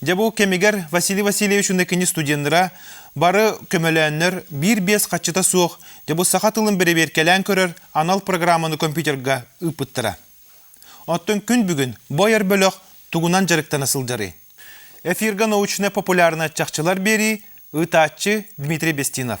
Дьэ бу кэмигэр Василий Васильевич уонна кини студеннара бары көмөлөөннөр биир-биэс хаччыта суох дьэ бу саха тылын бэрэбиэркэлээн көрөр анал программаны компьютерга ыыппыттара. Оттон күн бүгүн бу айар бөлөх тугунан дьарыктана сылдьарый? Эфиргэ научнай-популярнай чахчылар биэрии, ыытааччы Дмитрий Бестинов.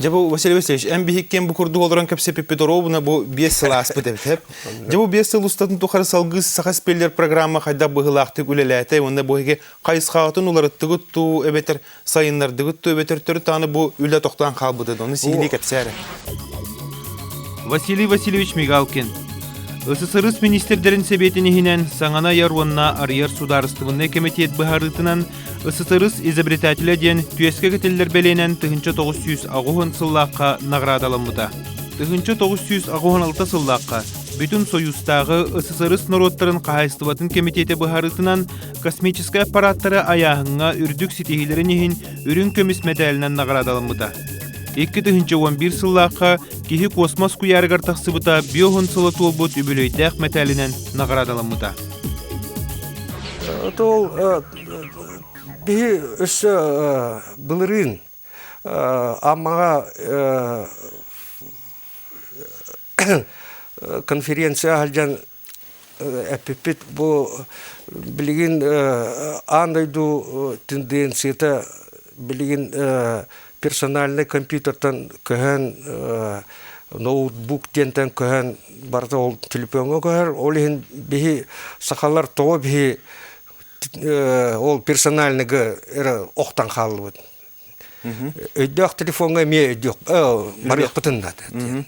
Дьэ бу Василий Васильевич, эн биһиккин бу курдук олорон кэпсэпиппит оруобуна бу биэс сыл ааспыт эбит. Дьэ бу биэс сыл устатын тухары салгыы Саха спеллер программа хайдах быһыылаахтык үлэлээтэ уонна бу хайысхаҕытын уларыттыгыт туу эбэтэр сайыннардыбыт то эбэтөртөрү бу үлэ тохтаан хаалбыты оны сиилии кэпсээре Василий Васильевич Мигалкин ССРС министрдерин Сэбиэтин иһинэн саҥана айар уонна арыйар судаарыстыбыннай кэмитиэт быһаарыытынан ССРС изобретателя диэн түөскэ кэтиллэр бэлиэнэн тыһынча тоғыз сүүс аҕыһын сыллаахха наҕараадаламмыта. Тыһынча тоғыз сүүс аҕыһын алта сыллаахха бүтүн Союзтааҕы ССРС норуоттарын хаһаайыстыбатын кэмитиэтэ быһаарыытынан космическай аппарааттары айааһыҥҥа үрдүк ситиһиилэрин иһин үрүҥ көмүс мэтээлинэн наҕараадаламмыта. Икки тыһыынча уон биир сыллаахха киһи космос куйаараҕар тахсыбыта биоһун сыла туолбут үбүлүөйдээх мэтээлинэн наҕараадаламмыта. Тол биһи өссө былырыын Аммаҕа конференция аһылдьан эппиппит бу билигин аан дойду тенденцията билигин персональнай компьютертан көһөн ноутбук диэнтэн көһөн барыта ол телефоҥҥа көһөр ол иһин биһи сахалар тоҕо биһи ол персональныгы эрэ охтон хааллыбыт Өйдөөх телефоҥҥа эмиэ өйдүөх барыахпытын наада диэн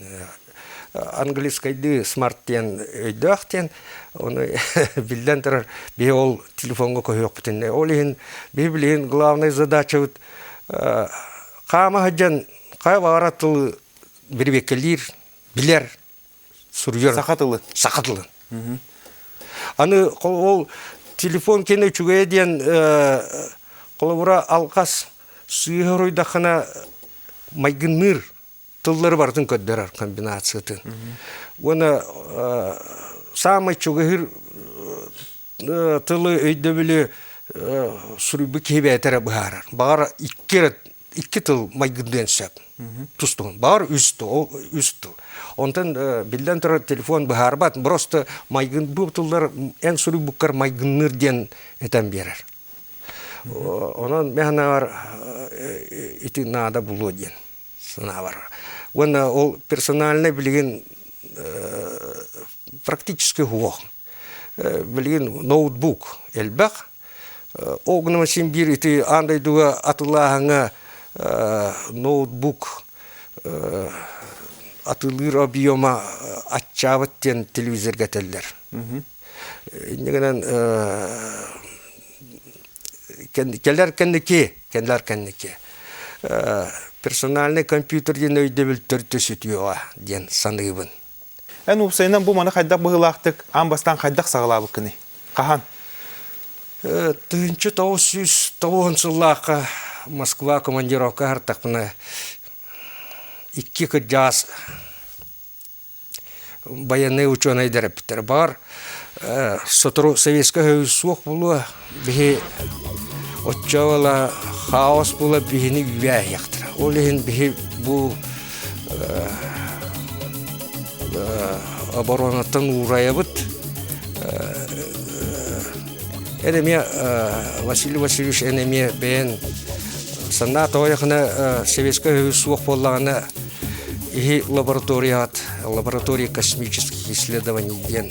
английскайдыы смарт диэн өйдөөх диэн ону биллэн турар биһи ол телефоҥҥа көһүөхпүтүн ол иһин биһи билигин главнай задачабыт хаама сылдьан хайа баҕара тылы бирибиэккэлиир билэр суруйар саха тылы саха тылын аны ол телефон кene үчүгэйэ диэн холобура алҕас сыыһа уруйдаххына майгынныыр тыллары барытын көрдөрөр комбинациятын уонна саамай чугаһыыр тылы өйдөбүлү суруйбут киһи бээтэрэ быһаарар баҕар икки эрэ икки тыл майгырдыан сөп тустуһун баар үс тыл үс тыл онтон биллэн турар телефон быһаарбат просто майгын бу тыллар эн суруйбуккар майгынныыр диэн этэн биэрэр онон мен санаабар ити наада булуо диэн санаабар уонна ол персональный билигин практический уох билигин ноутбук элбэх ол гынан син биир ити аан дойдуга атылааһыҥа ноутбук атылыыр объема аччаабыт диэн телевизорга этэллэр инньэ гынан кэлэр кэнники кэлэр кэнники персональный компьютер диэн өйдөбүл төрдө сүтүөҕэ диэн саныыбын Эн уопсайынан бу маны хайдах быһыылаахтык аан бастаан хайдах саҕалаабыккыный? Хаһан? Тыһыынча тоҕус сүүс тоҕуон сыллаахха Москва командировка аһартахпына икки кырдьаҕас байыаннай учуонайдар эппиттэрэ баҕар сотору Советскай Союз суох буолуо Биһи оччо ыла хаос була биһини үүгээһиэхтэрэ. Ол иһин биһи бу оборонаттан уурайабыт. Эн эмиэ Василий Васильевич эн эмиэ бэйэн санаа тоҕойахына Советскай Союз суох буоллаҕына иһи лабораторияҕыт лаборатория космических исследований диэн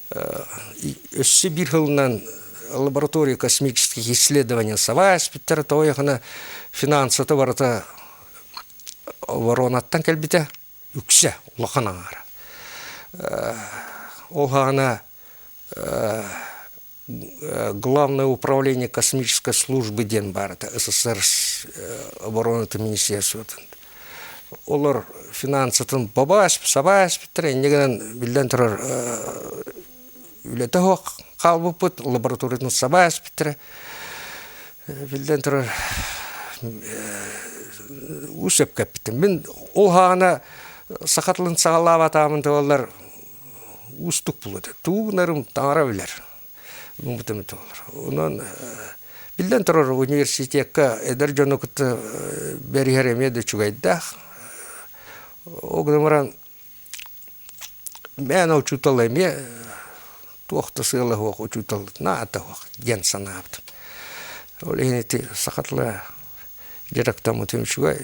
Өссө биир сылынан лаборатория космических исследований саба испиттэрэ тоҕо диэхинэ финансата барыта воронаттан кэлбитэ үксэ улахан аҥаара ол аана главное управление космической службы диэн баарыта ссср оборонатын министерствотын олор финансытын бабааш, сабааш биттэр инньэ гынан биллэн турар үлэтэ суох хаалбыппыт, лабораториятын сабааш биттэрэ биллэн турар уу сөпкө эппитим. Мин ол хаана саха тылын саҕалаабатаамын да буоллар уустук буолуо этэ. Тугу гынарым таҥара билэр. муҥутым толор. Онон биллэн турар университекка эдэр дьону кытта бэриһэр эмиэ да үчүгэйдээх. Ол гынан баран мээнэ учуутал эмиэ туох да сыала суох учуутал наада суох диэн санаабытым. Ол иһин ити саха тыла дьарыктаммытым үчүгэй.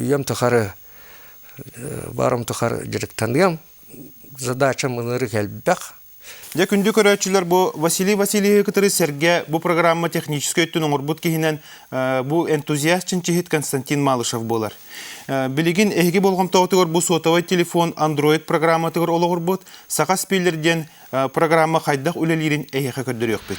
Үйэм тухары баарым тухары дьарыктаныам. Задачам ынырык элбэх. Дьэ күндү көрөөччүлэр бу Василий Васильевиһы кытары сэргэ бу программа техническэй өттүн оҥорбут киһинэн бу энтузиаст чинчиһит Константин Малышев буолар. Билигин эһиги болҕомтоҕутугар бу сотовый телефон Android программатыгар олоҕурбут Саха спиллер диэн программа хайдах үлэлиирин эһиэхэ көрдөрүөхпүт.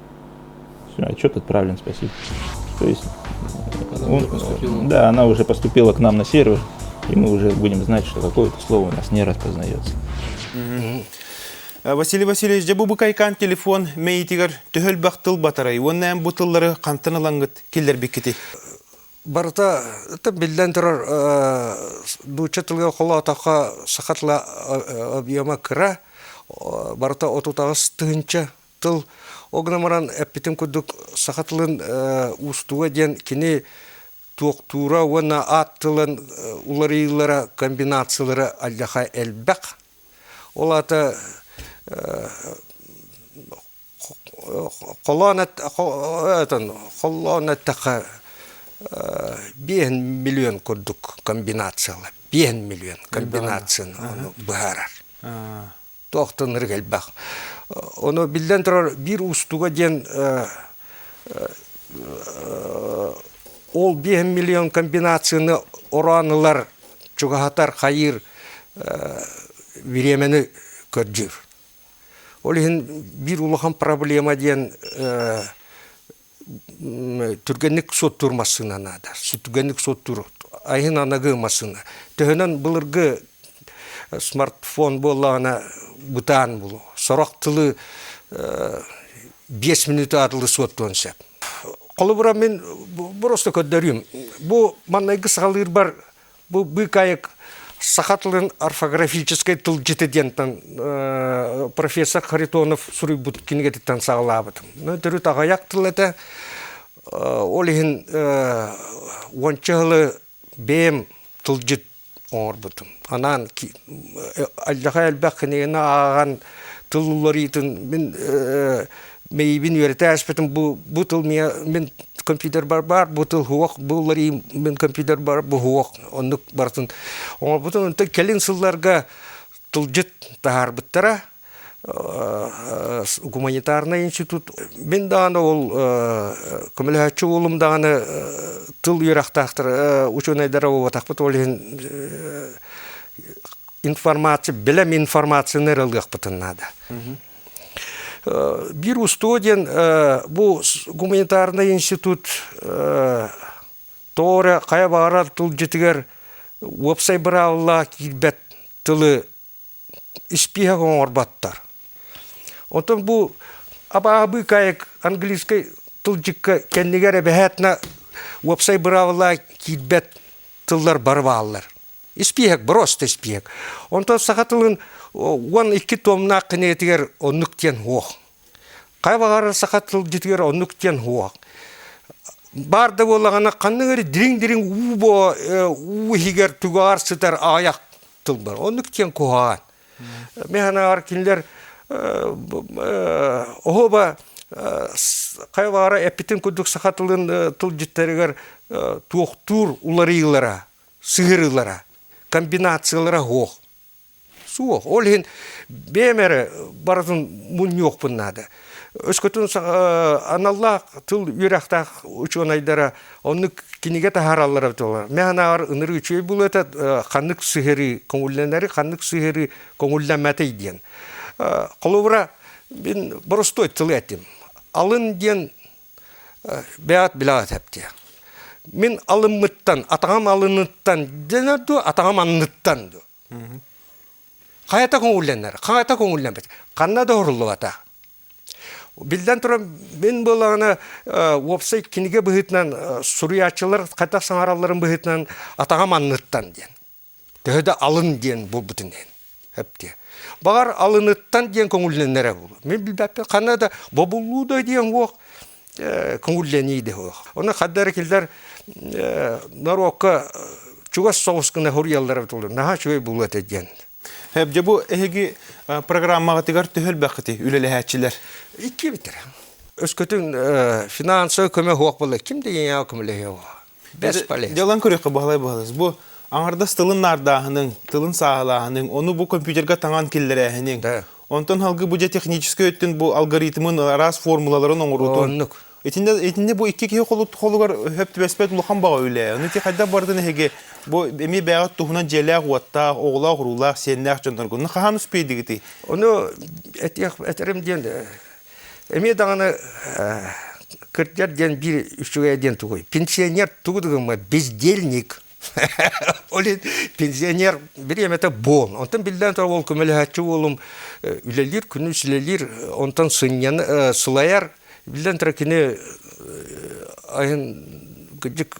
Отчет отправлен, спасибо. То есть он, да, она уже поступила к нам на сервер, и мы уже будем знать, что такое слово у нас не распознается. Василий Васильевич, дьэ бу букайкаан телефон мэйитигэр төһөлбөх тыл батарай уонна эн бу тыллары хантан ылангыт киллэрбиккити? Барыта тып биллэн турар нуучча тылга холоотохо саха тыла объема кыра, барыта отутаҕыс тыһынча Тыл ол гынан баран эппитим курдук саха тылын уустуга диэн кини туохтуура уонна аат тылын уларыйыылара комбинациялара алдьаха элбэх. Ол аата холоон холлоон эттэххэ биэһин миллион курдук комбинациялар биэһин миллион комбинацияны быһаарар. туохтанырык элбэх. Ону биллэн турар биир уустуга диэн ол биэһин миллион комбинацияны ороон ылар, чугаһатар, хайыыр бириэмэни көрдүүр. Ол иһин биир улахан проблема диэн түргэнник суоттуур массыына наада. Түргэнник суоттуур айһын аныгы массыына. Төһөнөн былыргы смартфон буоллаҕына бытаан булу. Сорох тылы биэс мүнүүтэ атылы суоттуон сөп. Холобура мин просто көрдөрүүм. Бу маннайгы саҕалыырбар Бу быкаек саха тылын орфографическай тылдьыты диэнтэн профессор Харитонов суруйбут кинигэтиттэн саҕалаабытым. Төрүт аҕыйах тыл этэ, ол иһин уонча сылы бэйэм тылдьыт оҥорбутум. Анаан алдьархай элбэх кинигэни ааҕан тыл уларыытын мин Мейбин үөрэтээспитим бу бу тыл миэ мин компьютер бар баар бу тыл уһуох бу уларыйым мин компьютер бар бу уһуох оннук барытын оҥорбутум онтон кэлин сылларга тылдьыт таһаарбыттара гуманитарнай институт мин даҕаны ол көмөлөһөөччү уолум даҕаны тыл үөрэхтээхтэр учуонайдара буолбатахпыт ол иһин информация билэм информацияны ыралыахпытын наада Биир устуо диэн бу гуманитарнай институт тоҕо эрэ хайа баҕарар тылдьытыгар уопсай быраабылалаах киирбэт тылы испииһэк оҥорботтор. Оттон бу абааһы быыкаайык английскай тылдьыкка кэннигэр эбэһээтинэ уопсай быраабылалаах киирбэт тыллар бары бааллар. Испиэһэк, бороста испиэһэк. Онтон саха тылын уон икки туомнаах кинигэтигэр оннук диэн уох. Хайа баҕарар саха тылдьытыгар оннук диэн уох. Баар да буоллаҕына ханнык эрэ дириҥ-дириҥ уу боо э, уу иһигэр тугар сытар аҕыйах тыл бар. Оннук диэн куһаҕан. Мен санааҕар кинилэр оһоба хайа баара эппитин курдук саха тылын тылдьыттарыгар туохтуур уларыйыылара сыһырыылара, комбинациялара суох. Суох. Ол иһин бэйэм эрэ барытын мунньуохпун наада. Өскөтүн аналлаах тыл үөрэхтээх учуонайдара оннук кинигэ таһаараллара быталлар. Мен санааҕар ынырыы үчүгэй булуота ханнык сыһырыы көҥүллэнэри, ханнык сыһырыы көҥүллэмэтэй диэн. Холобура, мин боростуой тылы этим. Алын диэн бэйэҕит билэҕит эптиэ мин алыммыттан атаҕым алыныттан дэнэ дуо атаҕым анныттан дуо хайата көҥүллэнэр хайата көҥүллэммэт ханна да оһоруллубата биллэн турар мин буоллаҕына уопсай кинигэ быһыытынан суруйааччылар хайдах саҥаралларын быһыытынан атаҕам анныттан диэн төһө да алын диэн буолбутун иһин эптиэ баҕар алыныттан диэн көҥүллэнэрэ буолуо мин билбэппин ханна да бобуллуу да диэн уох көҥүллэнии да уох ону ханна эрэ кинилэр норуокка чугас соҕус гына суруйаллара бутуллар наһаа үчүгэй буолуо этэ диэн Дьэ бу эһиги программаҕытыгар төһө элбэххитий үлэлэһээччилэр? Икки бүтэрэ. Өскөтүн финансовай көмө суох буолла ким да ийэҕэ көмөлөһүө Дьалан көрүөххэ баһылай-баһылас. Бу аҥардас тылын наардааһыныҥ, тылын сааһылааһыныҥ, ону бу компьютерга таҥан киллэрээһиниҥ. Онтон халгы бу дьэ техническэй өттүн бу алгоритмын араас формулаларын оҥоруутун. Итиннэ бу икки киһи холугар өһөп түбэспэт улахан баҕа үлэ. Ону ити хайдах барытын эһиги бу эмиэ бэҕэт туһунан дьиэлээх-уоттаах, оҕолоох-уруулаах, сиэннээх дьонноргун хаһан успейдигитий? Ону этиэх этерим диэн Эмиэ даҕаны кырдьар диэн биир үчүгэйэ диэн тугуй? Пенсионер тугу да гыммат бездельник. Ол иһин пенсионер бириэмэтэ буол. Онтон биллэн турар уол көмөлөһөөччү уолум үлэлиир күнүс үлэлиир онтон сынньана сылайар. Биллэн турар кини айан кырдьык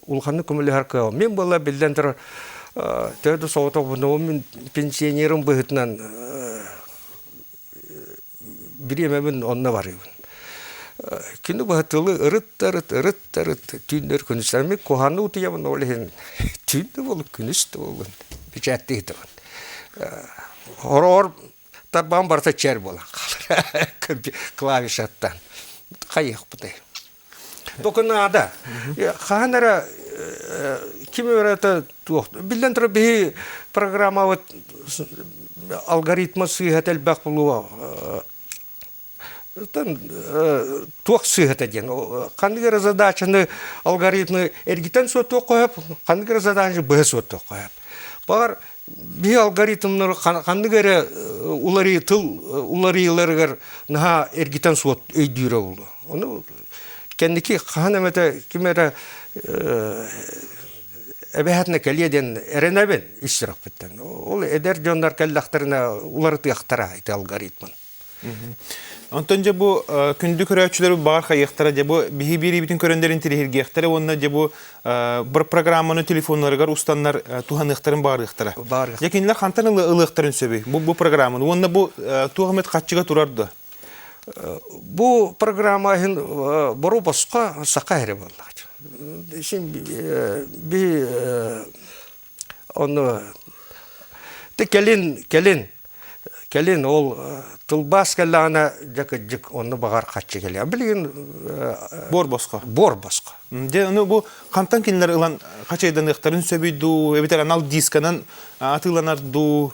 улаханнык көмөлөһөр кыаҕым. Мин буолла биллэн турар төһө да соҕотох буолуом мин пенсионерым быһыытынан бириэмэбин онно барыыбын. Кини быһа тылы ырыт арыт, ырыт арыт түүннэр күнүс эмиэ куһаҕаны утуйабын ол иһин түүн да буоллун күнүс да буоллун бэчээттиэхитэ хороҕор тарбаҕым барыта чээр буолан хаалар клавишаттан хайыахпытай Только надо. Хаһан эрэ ким өрөтө туох биллэн турар биһи программабыт алгоритма сыыһата элбэх булуо туох сыыһата диэн ханнык эрэ задачаны алгоритмы эргитэн суоттуох хоһоп ханнык эрэ задачаны быһа суоттуох хоһоп. Баҕар биһи алгоритмнары ханнык эрэ уларыы тыл уларыйыыларыгар наһаа эргитэн суот өйдүүрэ буолуо ону кэнники хаһан эмэтэ ким эрэ эбэһээтинэ кэлиэ диэн эрэнэбин ис сүрэхпиттэн ол эдэр дьоннор кэллэхтэринэ уларытыахтара ити алгоритмын Онтон дьэ бу күндү көрөөччүлэр баҕар хайыахтара дьэ бу биһи биэриибитин көрөннөрүн тириһиргиэхтэрэ уонна дьэ бу бір программаны телефоннарыгар устаннар туһаныахтарын баарыахтара. Дьэ кинилэр хантан ылыахтарын сөбүй бу бу программаны уонна бу туох эмит хаччыга турар да? Бу программа иһин бору боско сака эре боллаҕа. Син би Ону ты кэлин кэлин кэлин ол тылбаас кэллэҕинэ дьэ кырдьык онно баҕар хаччы кэлиэ билигин буор босхо буор босхо дьэ ону бу хантан кинилэр ылан хачайданыахтарын сөбүй дуу эбэтэр анал дисканан атыыланар дуу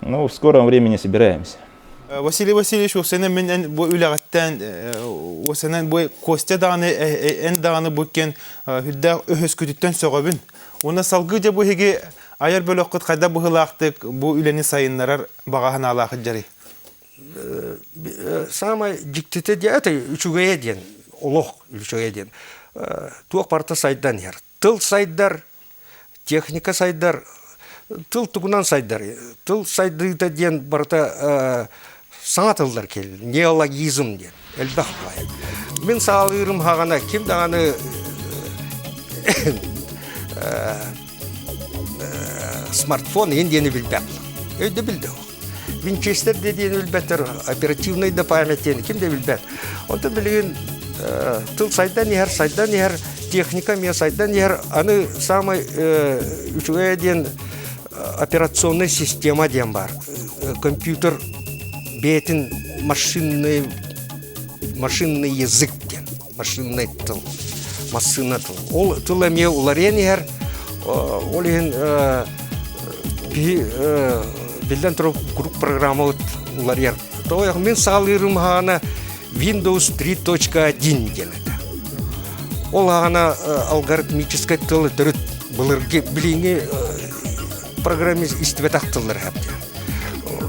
Ну, в скором времени собираемся. Василий Васильевич, осena мен бу үлэҕиттэн осena бу Костя даҕаны эн даҕаны бу кен хүддээх өһөскүтүттэн сөҕөбүн. Уна салгы же бу хиги айар бөлөхкүт хайда быһылаахтык бу үлэни сайыннарар бағаһын алаахыт жарый. Самое диктите диэти үчүгэйэ диэн, олох үчүгэйэ диэн. Туох парта сайдан яр. тыл сайдар, техника сайдар, тыл тугунан сайдар, тыл сайдыыта диэн барыта саҥа тыллар келлер, неологизм диэн элбэх баай. Мин саалыырым хаҕана ким даҕаны смартфон иһин диэни билбэт. Өйдөбүл да Винчестер диэн өлбөтөр оперативнай да памятиeni ким да билбэт. Онтон билигин тыл сайдан иһэр, сайдан иһэр, техника эмиэ сайдан иһэр. Аны самый үчүгэй диэн операционная система диэн бар. Компьютер бэйэтин машинный машинный язык диэн. машиннай тыл, массыына тыл. Ол тыл эмиэ уларыйан иһэр, ол иһин биллэн турар куруук программабыт уларыйар. Тоҕо мин саалыырым аһаана Windows 3.1 диэлэтэ. Ол аһаана алгоритмическай тыл төрүт былыргы билиҥҥи программист истибэтэх тыллар эһэптэ.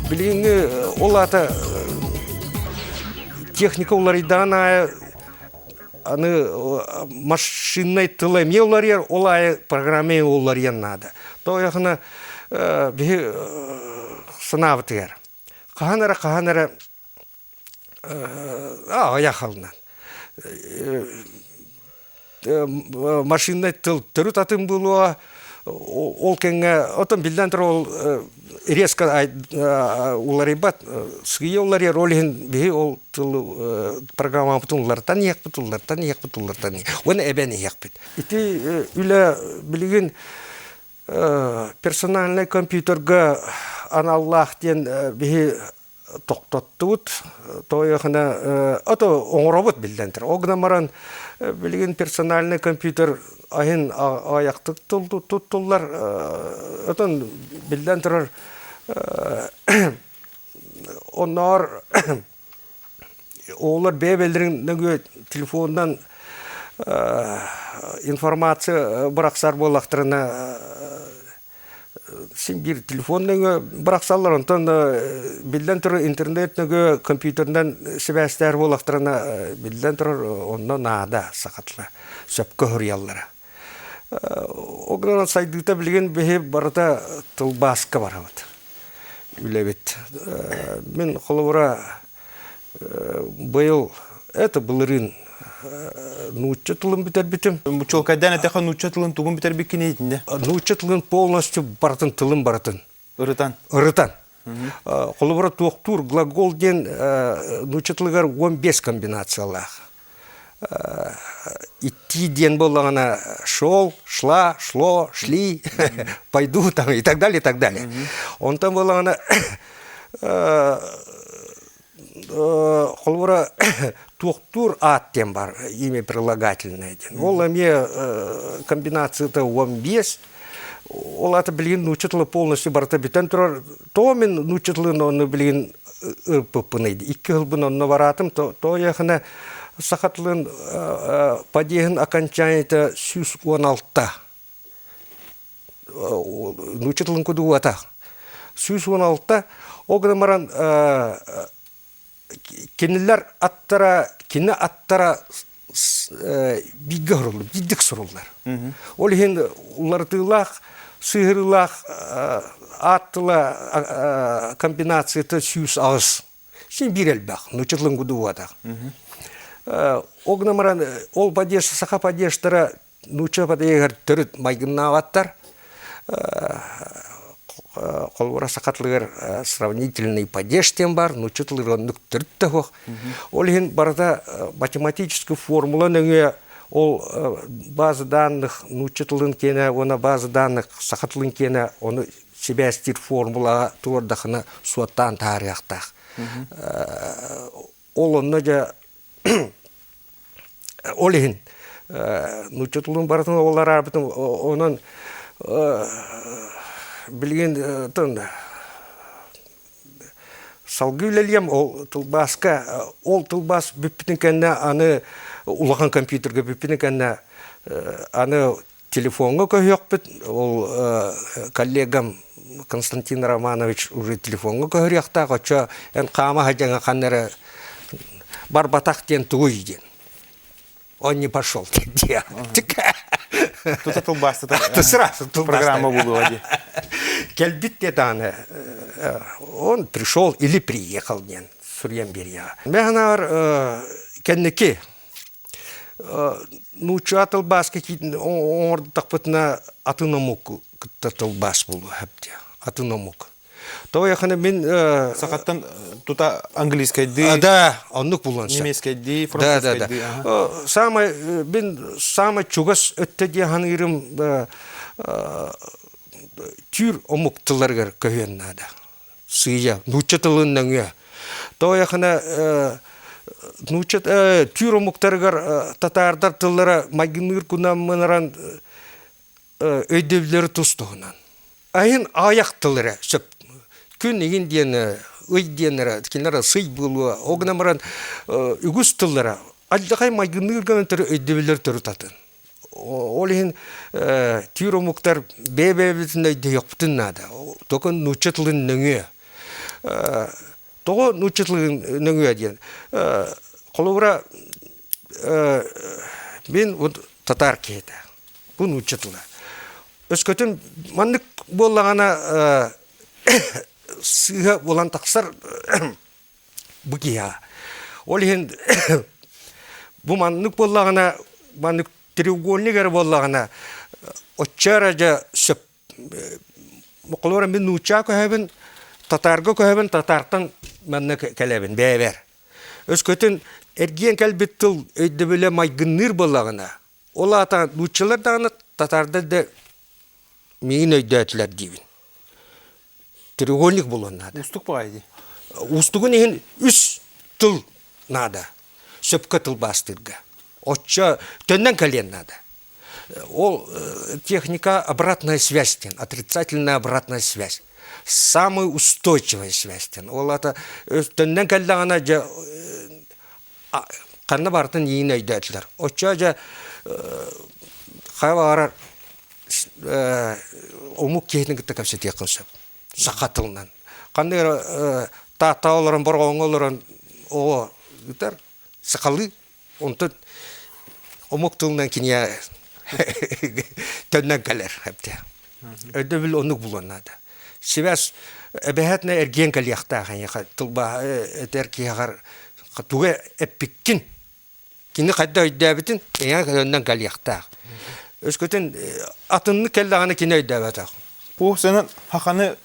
Билиҥҥи ол аата техника уларыйдаҕын аайы аны машиннай тыл эмиэ уларыйар ол аайы программа эмиэ уларыйан наада тоойохуна биһи санаабытыгар хаһан эрэ хаһан эрэ аҕыйах алынан машиннай тыл төрүт атын буолуо ол кэмҥэ оттон биллэн турар ол резко уларыйбат сыыйа уларыйар ол иһин биһи ол тылы программабытын уларытан иһиэхпит уларытан иһиэхпит уларытан иһиэх уонна эбэн иһиэхпит ити үлэ билигин персональнай компьютерга аналлаах диэн биһи тохтоттубут тоойохына ото оҥоробут биллэн турар ол гынан баран билигин персональный компьютер аһын аайахтык туттуллар отон биллэн турар онноор оолор бэйэ бэлдэрин нөgүө телефонунан информация бырахсар буоллахтарына син биир телефон нөҥө барахсаллар онтон биллэн турар интернет нөҥө компьютерынан сибээстээх буолахтарына биллэн турар онно наада сахатла сөпкө суруйаллара ол гынан сайдыыта билигин биһи барыта тылбааска барабыт үлэбит мин холобура Быйыл это былырыын нуучча тылын бүтэрбитим. Чуолкайдаан этэххэ нуучча тылын тугун бүтэрбит кини итиннэ? Нуучча тылын полностью барытын тылын барытын. Ырытан. Ырытан. Холобура туохтуур глагол диэн нуучча тылыгар он бес комбинациялаах. идти диэн буоллаҕына шел шла шло шли пойду там и так далее и так далее онтон буоллаҕына холобура туохтуур аат диэн бар имя прилагательное диэн ол эмиэ комбинацията он бес Ол ата билигин нуучча тыла полностью барыта бүтэн турар. Тоо мен нуучча тылын оны билигин ырпыппын айды. Икки хылбын онно бараатым. Тоо яхана саха тылын падеһын окончанията сүүс он алта. Нуучча тылын кудуата. Сүүс он алта. Ол гынан баран Кинилэр аттара, кини аттара бииргэ суруллубут, биирдик суруллар. Ол иһин уларытыылаах, сыыһырыылаах аат тыла комбинацията сүүс аҕыс. Син биир элбэх, нучотлынгудуватах. Ол гынан баран, ол падеж, саха падежтара Нуучча потеегар төрүт майгыннаабаттар холобура саха тылыгар сравнительный падеж диэн баар нуучча тылыгар оннук төрүт да суох ол иһин барыта математическай формула нөҥүө ол база данных нуучча тылын киэнэ уонна база данных саха тылын киэнэ ону сибээстиир формулаҕа туруордаххына суоттаан таһаарыахтаах Ол онно дьэ ол иһин нуучча тылын барытын уоллар аарбытын онон билигин салгыы үлэлиэм ол тылбааска ол тылбаас бүппүтүн кэннэ аны улахан компьютерга бүппүтүн кэннэ аны Телефоҥҥа көһүөхпүт, ол коллегам Константин Романович уже телефоҥҥа көһөрүөхтээх, оччо эн хаама садьаҥа ханна эрэ барбатах диэн тугуй диэн. Он не пошел диye artık. Тута тылбаастата сразу программа буолуо дии. Кэлбит де дааны он пришел или приехал диэн суруйан берия. Мен анаар кэнники нуучча тылбааска киитин оҥордутахпытына атын омук кытта тылбаас буолуо эбдиэ атын омук тоойохана мин сахаттан тута английскайдыы да оннук булуон сөп немецкайдыы французскайдыы саамай мин саамай чугас өттө диэ саныырым түүр омук тылларыгар көһүөн наада сыыйа нуучча тылын нөҥүө тоойахына нуучча түүр омуктарыгар татаардар тыллара майгынныыр кунаммынаран өйдөбүллэри тус-туһунан айын аҕыйах тыл эрэ сөп күн игин диэн ый диэн эрэ кинилэр сый буолуо ол гынан баран үгүс тыллара алдьархай майгынныыр гынан өйдөбүллэри төрүт атын Ол иһин түүр омуктар бэйэ-бэйэбитин өйдөһүөхпүтүн наада. Только нуучча тылын нөҥүө. Тоҕо нуучча тылын нөҥүө диэн, холобура мин вот татаар киһитэ, бу нуучча тыла. Өскөтүн маннык буоллаҕына сыыһа булан тахсар бу киһи Ол иһин бу маннык буоллаҕына, маннык треугольник эрэ буоллаҕына, оччо эрэ дьэ сөп холура мин нуучча көһөбүн, татаарга көһөбүн, татаартан манна кэлэбин бэйэбэр. Өскөтүн эргийэн кэлбит тыл өйдөбүлэ майгынныыр буоллаҕына, Ол аата нууччалар даҕаны татаардар да миигин өйдөөтүлэр диибин. Треугольник булуон наада. Уустук баҕайы дии. Уустугун иһин үс тыл наада. Сөпкө тылбаастыырга. Оччо төннөн кэлиэн наада. Ол э, техника обратная связь диэн, отрицательная обратная связь. Самый устойчивая связь диэн. Ол аата төннөн кэллэҕинэ дьэ э, ханна барытын иин өйдөөтүлэр. Оччо дьэ хаһа баҕарар омук киһитин кытта кэпсэтиэххин сөп саха тылынан. Ханнык эрэ Тааттаҕа олорон Бороҕоҥҥо олорон оҕо ыытар сахалыы онтон омук тылынан кинигэ төннөн кэлэр өйдөбүл оннук булуон наада. Сибээс эбэһээтинэ эргиэн кэлиэхтээх эйиэхэ тылбааһа этэр киһиэхэр тугу эппиккин кини хайда өйдөөбүтүн эйиэхэ көнөннөн кэлиэхтээх өскөтүн атыннык кэллэҕинэ кини өйдөөбөтөх Уу сэнэн хаханы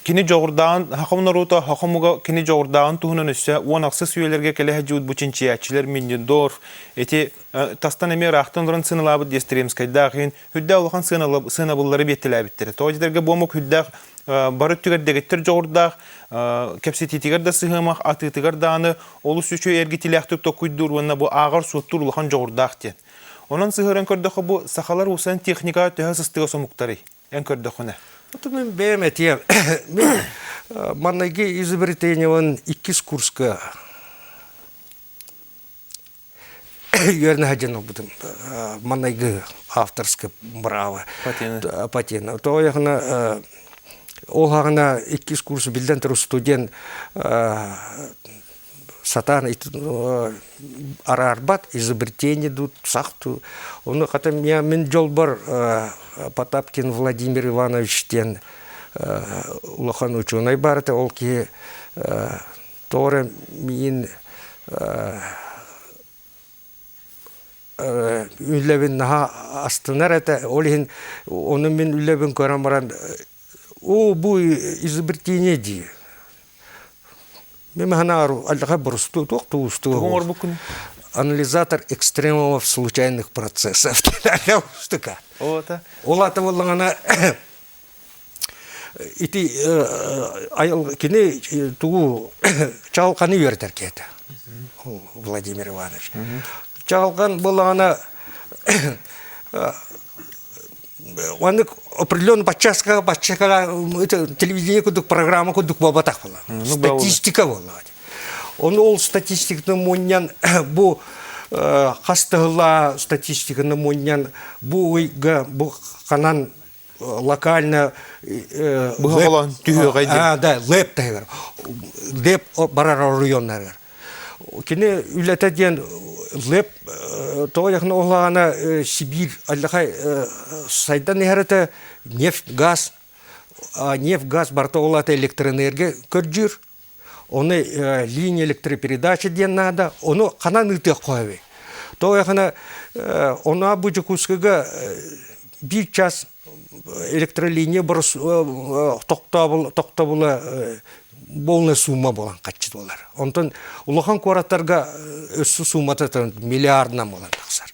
кини дьоҕурдааҕын хахам норута хахамуга кини дьоҕурдааҕын туһунан өссө уон ахсы сүөлэргэ кэлэһэ дьуут бу чинчийээччилэр миннин доор ити тастан эмиэ ыраахтан олорон сынылаабыт диэстеремскайдаах иһин Үрдээх улахан сыанабыллары биэттэлээбиттэрэ. Тоҕо буомук үрдээх бары өттүгэр дэгиттэр дьоҕурдаах, кэпсэтиитигэр да сыһыамах, атыытыгар дааны олус үчүгэй эргитилээхтик токуйдуур уонна бу ааҕар суоттуур улахан дьоҕурдаах диэн. Онон сыһыаран көрдөххө бу сахалар усан техникаҕа төһө сыстыга сомуктарый? Эн көрдөххүнэ. Вот мы бэйэм этиэм. Манныгы изобретениеван иккис курска үөрэнэ сылдьан ылбытым манайгы авторское право патена патена тоҕо диэхинэ ол ааҕына иккис курс биллэн турар студент сатаан араарбат изобретение дуу сах дуу ону хата мин дьолбор потапкин владимир иванович диэн улахан учуонай баар этэ ол киһи Тоҕо эрэ үлэбин наһаа астынар этэ, ол иһин ону мин үлэбин көрөн баран оо бу изобретение дии. Мин санаабар аллархай борустуу туох тубустуой уол анализатор экстремумов случайных процессов ол аата буоллаҕына Ити кини тугу чаҕылханы үөрэтэр киһитэ Владимир Иванович. Чаҕылхан былаана маннык определенный подсчастка подсчастка телевидение курдук программа курдук буолбатах буолла. Статистика буолла. Ону ол статистиканы мунньан бу хастыһыла статистиканы мунньан бу ыйга бу ханан локально быһаҕалаан түһүөҕэй диэн лэптайгар леп барар оройуоннарыгар кини үлэтэ диэн леп тоҕо диэххинэ ол аана сибиир аллахай сайдан иһэр этэ нефть газ нефть газ барыта ол аата электроэнергия көрдүүр Оны э, линия электропередача диэн наада, ону ханан ыытыахха эбей? То эхана э, онуа бу Дьокуускайга э, биир час электролиния тоқтабыла болная сумма болан каччыт болар. Онтон улахан куораттарга өссө суммата миллиардынан болан тахсар.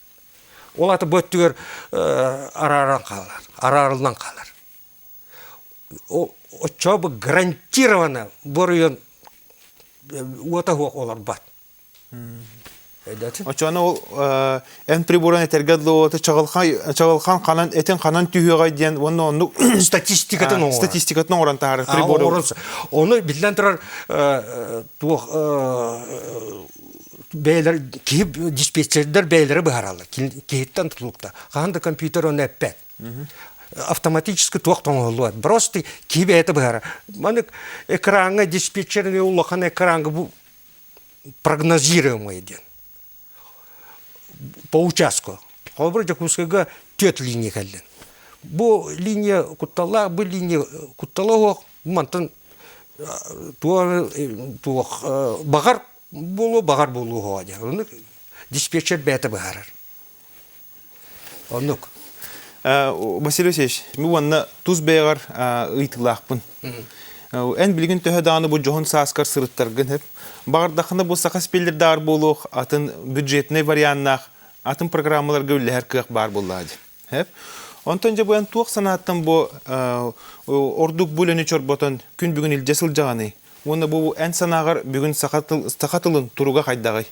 Ол аты бу өттүгэр арааран хаалар, араарыллан хаалар. Оччообу гарантированно боройон уота суох олорбот. Очоно ол эн приборун этэргэ дылоты чаҕылхан ханан этин ханан түһүөҕэй диэн уонна оннук статистикатын оҥорон статистикатын оҥорон таһаарар прибор. Оҥорон ону биллэн турар туох бэйэлэр киһи диспетчердэр бэйэлэрэ быһаараллар киһиттэн тутулукта хаһан да компьютер ону эппэт автоматически туох тоҥоһуллубат просто киһи бэйэтэ быһаарар маны экраҥҥа диспетчер эмиэ улахан экраҥҥа бу прогнозируемое диэн по участку холобура дьокуускайга түөрт линия кэллин бу линия кутталлаах бу линия куттала суох мантан Баҕар буолуо, баҕар буолуо оһоҕо дии. Ону диспетчер бэйэтэ быһаарар. Оннук. Василий Васильевич, уонна тус бэйэҕэр ыйытыылаахпын. Эн билигин төһө даҕаны бу дьоһун сааскар сырыттаргын сөп, баҕардаххына бу саха спеллердааҕар буолуох атын бюджетнай варианнаах атын программаларга үллэһэр кыах баар буоллаҕа дии. Онтон дьэ быан туох санааттан бу ордук бу үлэни чорботон күн бүгүн илдьэ сылдьаҕыный? Уонна бу эн санааҕар бүгүн саха тыл саха тылын туруга хайдаҕый?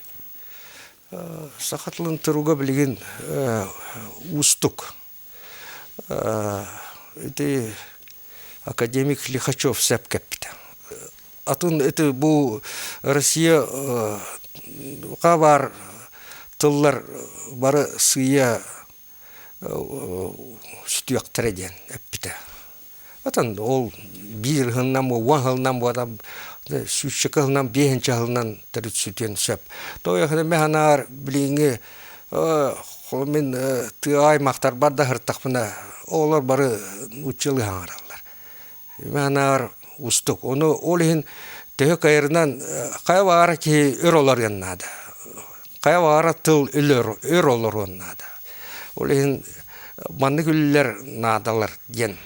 Саха тылын туруга билигин уустук. Ити академик Лихачев сөп кэппитэ. атын ити бу Россия ха баар тыллар бары сыйа сүтүөхтэрэ диэн эппитэ. Атын ол биир ыһылынан уон ыһылынан буода сүүсчэкэ ыһылынан биэһинчэ ыһылынан төрүт сүтүөн сөп. Тоойохана ме ханаар билиҥҥи мин тыа аймахтар бар да сыртахпына оҕолор бары нууччалыы хаҥараллар. Маанаҕар уустук. Ону ол иһин төһө кайрынан хайа баҕара киһи өр олоруон наада. Хайа баҕара тыл өр олоруон наада. Ол иһин маннык үлэлэр наадалар диэн.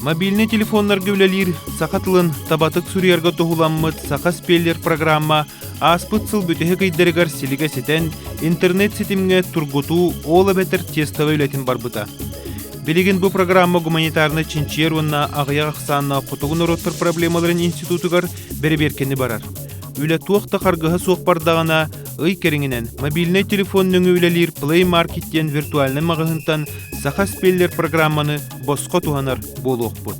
Мобильнай телефоннарга үлэлиир саха тылын табатык суруйарга туһуламмыт Саха спеллер программа Ааспыт сыл бүтэһик ыйдарыгар силигэ ситэн, интернет ситимҥэ тургутуу ол эбэтэр тестовай үлэтин барбыта. Билигин бу программа гуманитарнай чинчийэр уонна аҕыйах ахсааннаах хотугу норуоттар проблемаларын институтугар бэрэбиэркэни барар. Үлэ туох да харгыһа суох бардаҕына, ый кэриҥинэн мобильнай телефон нөҥүө үлэлиир Play Market диэн виртуальнай маҕаһыынтан саха спеллер программаны босхо туһанар буолуохпут.